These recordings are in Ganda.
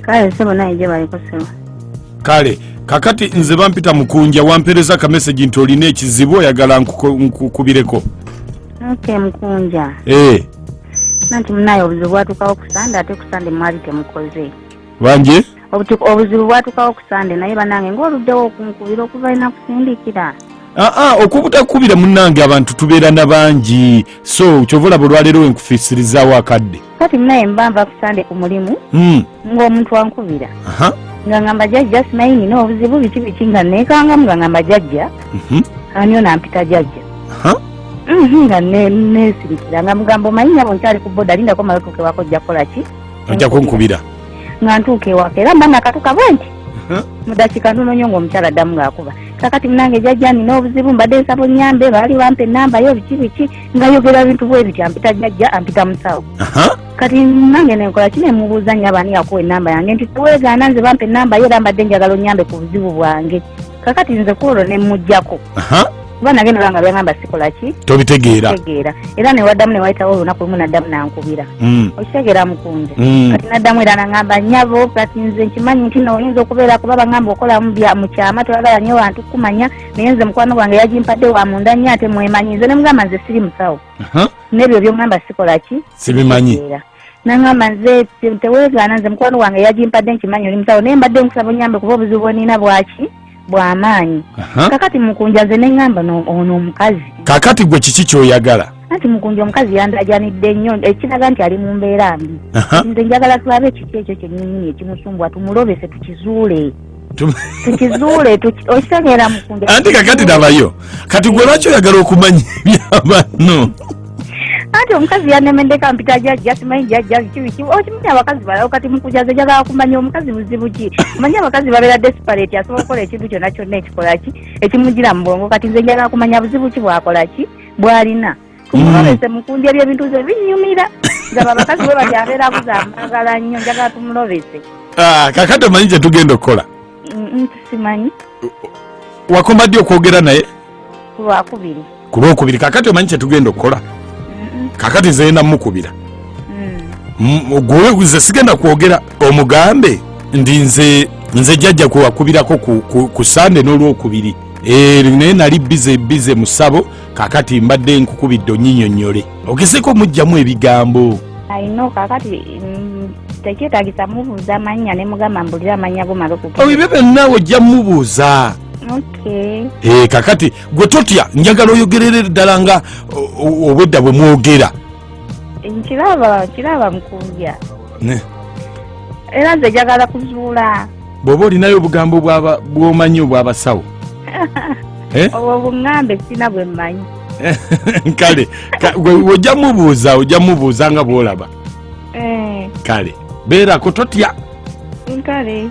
kale sebo naye gye baliko sebo kale kakati nze bampita mukunja wampereza akameseji nti olina ekizibu oyagala nkukubireko ok mukunja ee eh. nanti munaye obuzibu bwatukawo kusande ate kusande mwali temukoze banje obuzibu bwatukawo kusande naye banange ngaoluddewo okunkubira okuva ina kusindikira aa ah, ah, okubutakubira munange abantu tubeera na bangi so kyova olaba olwaleero wenkufisirizawo akadde kati munaye mba nva ku sande ku mulimu hmm. ng'omuntu ankubira nga ngamba jajja simanyi nina obuzibu biki biki nga nekangamu nga ngamba jajja mhm. ani ono ampita jajja mhm, nga nesirikira nga mugamba omanyi nyabo nkyali ku boda lindako mala otuuka ewaka ojja kukola ki ojja kunkubira nga ntuuka ewaka era mba nakatuka bwe nti mudakika ntono nyo ngaomukyala addamu ngaakuba kakati munange jajja nina obuzibu mbadde nsaba onyambe baali bampa enamba yo biki biki ngayogera bintu bwe bityo ampita jajja ampita musawo kati nange nenkola ki nemubuuza nyo abaani yakuwa enamba yange nti tewegaana nze bampa enamba ye era mbadde njagala onyambe ku buzibu bwange kakati nze kwolwo nemugjako kuba nage nolanga byagamba sikola ki tobitegeera era newaddamu newayitawo olunaku lumu naddamu nankubira mm. okitegeera mukunja mm. kati naddamu era nangamba nyabo kati nze nkimanyi nti nooyinza okubeera kuba bagamba okola mukyama toyagala nyo bantu kumanya naye nze mukwano gwange yagimpadde wa munda nnyo ate mwemanyi nze ne mugamba nze siri musawo n'ebyo byongamba sikola ki sibimanyi nangamba nze teweegaana nze mukwano gwange yagimpadde nkimanyi oli musawo naye mbadde nkusaba onyambe kuba obuzibu bwenina bwaki bwamaanyi kakati mukunja nze nengamba ono omukazi kakati gwe kiki kyoyagala anti mukunja omukazi yandajanidde nnyo ekiraga nti ali mu mbeera mbi nze njagala tulabe ekiki ekyo kyenyini ekimusumbwa tumulobese tukizuule tukizuule okitegeera mukunda anti kakati nabayo kati gwe lwaki oyagala okumanya ebyabanno anti omukazi yanemeddeko ampita jajja simanyi jajja kibiki okimanyi abakazi balawo kati mukujaza jagala kumanya omukazi muzibu ki manyi abakazi babeera desperate asobola okukola ekintu kyonna kyonna ekikolaki ekimugira mu bwongo kati nze njagala kumanya buzibu ki bwakolaki bwalina omulabese mm. mukunja byebintu ze binyumira ngaba abakazi bwe bali abeera abuza amagala nnyo njagala tumulobese ah, kakati omanyi kye tugenda okukola simanyi wakoma ddi okwogera naye kulwakubiri ku lwokubiri kakati omanyi kye tugenda okukola kakati zeyenda mukubira mm. gwe ze sigenda kwogera omugambe ndi nze nze jjajja kwewakubirako ku sande n'olwokubiri eh, naye nali bize bize musabo kakati mbadde nkukubidde onyinyonyole okeseko mujjamu ebigambo ayino kakati mm, tekyetagisa mubuuza manya ne mugamba mbulire amanya go mala okuga ebyo byonna ojja mubuuza okay eh, kakati gwe totya njagala oyogerere ddala nga obwedda bwe mwogera nkiraba kiraba mukubya era nze njagala kuzuula bwoba olinayo obugambo bwomanyi obwabasawo eh? obwo buŋambe sina bwe mmanyi kale ojja mubuuza ojja mubuuza nga bwolaba eh. kale beerako totya kale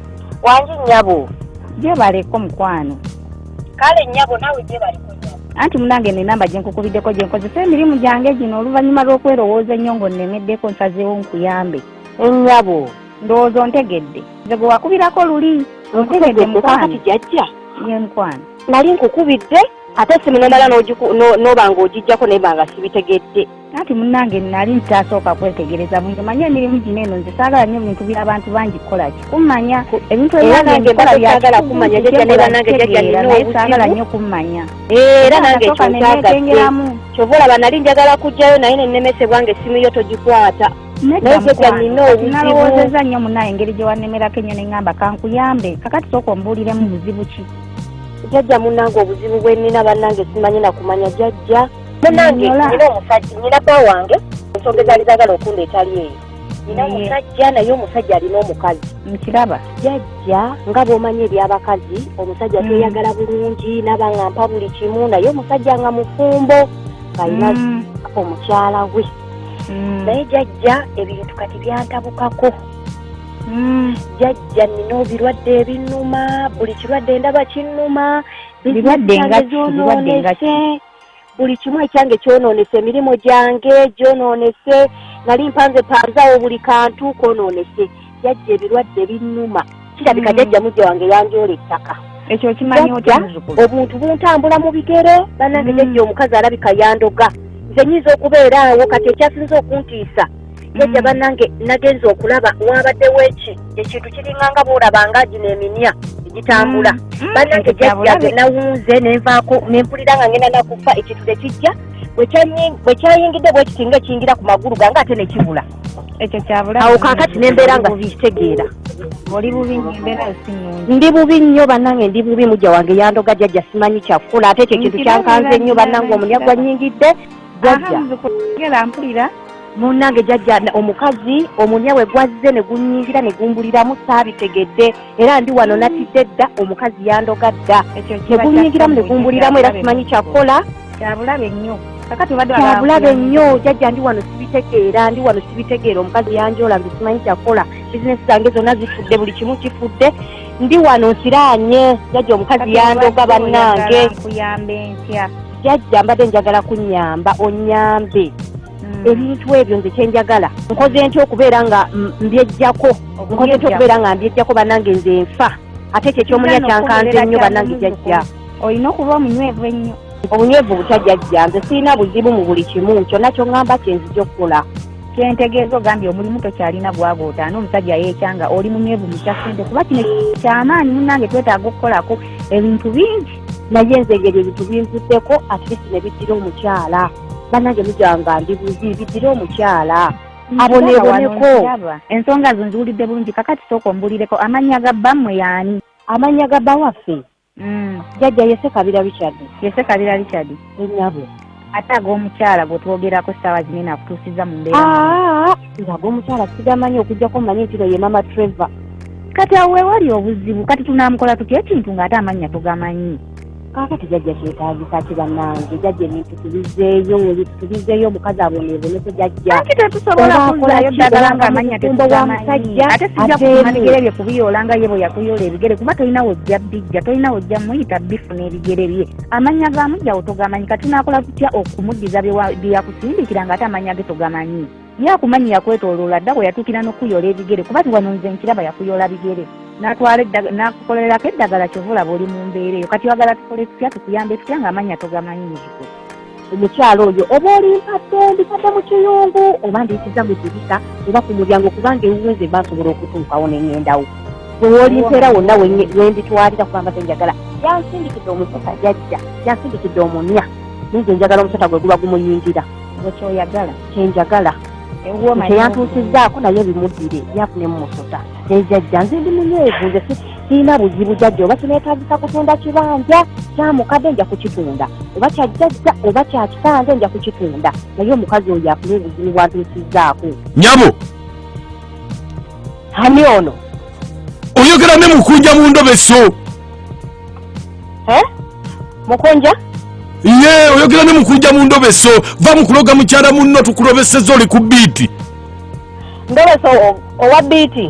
wangi nyabo gyebaleko mukwano kale nyabo nawe gyebaleko anti munange nenamba gyenkukubiddeko gyenkozesa emirimu gyange gino oluvannyuma lw'okwerowooza ennyo ng'onnemeddeko nsazeewo nkuyambe ennyabo ndowooza ontegedde nze gwe wakubirako luli ontegedde mukwano jajja ye mukwano nali nkukubidde ate simu nomala n'oba ng'ogijjako naye banga sibitegedde anti munange nali ntasooka kwetegereza bungi manya emirimu gino eno nze saagala nyo ebintu byabantu bangi kukolaki kumanya ebintu ebyangeagala kumanya naye saagala nyo kummanya era nange ekyokyagaekengeramu kyova olaba nali njagala kujjayo naye nenemesebwa nga essimu yo togikwata nalowozeza nnyo munaye engeri gye wanemerako ennyo ne ŋŋamba kankuyambe kakati sooka ombuuliremu buzibu ki jajja munange obuzibu bwe nnina bannange simanyi na kumanya jajja munange nina omusajja nina bba wange ensonga ezaali zaagala okunda etali eyo nina omusajja naye omusajja alina omukazi nkiraba jajja nga bw'omanyi eby'abakazi omusajja mm. tweyagala bulungi naba nga mpa buli kimu naye omusajja nga mufumbo ng'alina mm. omukyala we mm. naye jajja ebintu kati byantabukako jajja nina obirwadde ebinuma buli kirwadde ndaba kinuma birwadde nga birwadde nga buli kimu ekyange kyonoonese emirimu gyange gyonoonese nali mpanze panzawo buli kantu kwonoonese jajja ebirwadde binnuma kirabika hmm. jajja mujja wange yanjoola ettaka ekyo okimanyi otya obuntu buntambula mu bigere banange hmm. jajja omukazi alabika yandoga nze nyinza okubeera awo kati ekyasinza okuntiisa jajja mm. banange nagenza okulaba wabaddewo eki ekintu kiringanga boolaba nga gino eminya egitambula mm. mm. banange jajja ge nawunze nenvaako nempulira nga ngenda nakufa ekintu tekijja bwe kyayingidde bwekiti nga ekiyingira ku magulu gange ate ne kibula ekyo kyabulaawo kakati nembeera nga sikitegeera oli bubi nyo embeera sinungi ndi bubi nnyo bannange ndi bubi mujja wange yandoga jajja simanyi kyakukola ate ekyo kintu kyankanze nnyo bannange omunyagwa nyingidde jajja ngera mpulira munange jajja omukazi omunya we gwazze ne gunyingira ne gumbuliramu saabitegedde era ndi wano natidde dda omukazi yandoga dda ne gunyingiramu ne gumbuliramu era simanyi kyakukola kyabulabe nnyo kyabulabe nnyo jajja ndi wano sibitegeera ndi wano sibitegeera omukazi yanjoola nze simanyi kyakukola bizinesi zange zonna zifudde buli kimu kifudde ndi wano nsiraanye jajja omukazi yandoga bannange nkuyambe ntya jajja mbadde njagala kunyamba onyambe mm. ebintu ebyo nze kyenjagala nkoze ntya okubeera nga mbyejjako nkoze ntya okubeera nga mbyejjako banange nze nfa ate ekyo ekyomunya kyankanze nnyo banange jajja olina okuba omunywevu ennyo obunywevu butya jajja nze sirina buzibu mu buli kimu kyonna kyoŋŋamba kyenzija okukola kyentegeeza ogambye omulimu tokyalina gwago otaana omusajja yeekyanga oli munywevu mukyasente kuba kino kyamaanyi munange twetaaga okukolako ebintu bingi naye nze ngeri ebintu binvuddeko atleast ne biddira omukyala banange mujanga ndi buzi biddira omukyala aboneboneko ensonga zo nziwulidde bulungi kakati sooka ombulireko amannya ga bammwe yaani amannya ga bawaffe mm. jajja yese kabira richard yese kabira richard enyabo ate ag'omukyala gwe twogerako ssaawa zino eno akutuusizza mu mbeera ah, nga ag'omukyala sigamanyi okujjako mmanyi nti no ye mama trevor kati awo wewali obuzibu kati tunaamukola tutya ekintu ng'ate amannya tugamanyi kaakati jajja kyetaagisa ki bannange jajja ebintu tubizeeyo tubizeeyo omukazi aboneebonese jajjaaki tetusobola kuzayo ddagala nga amannya tetugamanyi ate sijja kufuna bigere bye kubiyoola nga ye bwe yakuyola ebigere kuba tolina wojja bijja tolina wojja muyita bifuna ebigere bye amannya ga mujjawo togamanyi kati naakola tutya okumuddiza bye yakusindikira nga ate amannya ge togamanyi ye akumanyi yakwetooloola dda bwe yatuukira n'okukuyola ebigere kuba tiwano nze nkiraba yakuyola bigere nakukolerako eddagala kyovulaba oli mu mbeera eyo kati wagala tukole tutya tukuyambe tutya nga amannya togamanyi muziko omukyala oyo oba olimpadde mbitadde mu kiyungu oba ndiyitiza mu dirisa oba ku mulyango kubanga ewuwenze basobola okutuukawo nengendawo wewolimpeera wonna wenditwalira kubanga zenjagala yansindikidde omusika yajja yansindikidde omunya ninze njagala omusota gwe guba gumuyingira ekyoyagala kyenjagala teyantuusizaako naye bimuddire yafunemu musota nejajja nze ndi munyeevu nze sirina buzibu jajja oba kinetagisa kutunda kibanja kyamukadde nja kukitunda oba kyajjajja oba kyakitanze nja kukitunda naye omukazi oyo afuna obuzibu bwantuusizaako nyabo ani ono oyogera ne mukunja mu ndobeso eh? mukunja ye oyogera ne mukunja mu ndobeso va mu kuloga mukyala munno tukulobeseza oli ku biiti ndobeso owa biiti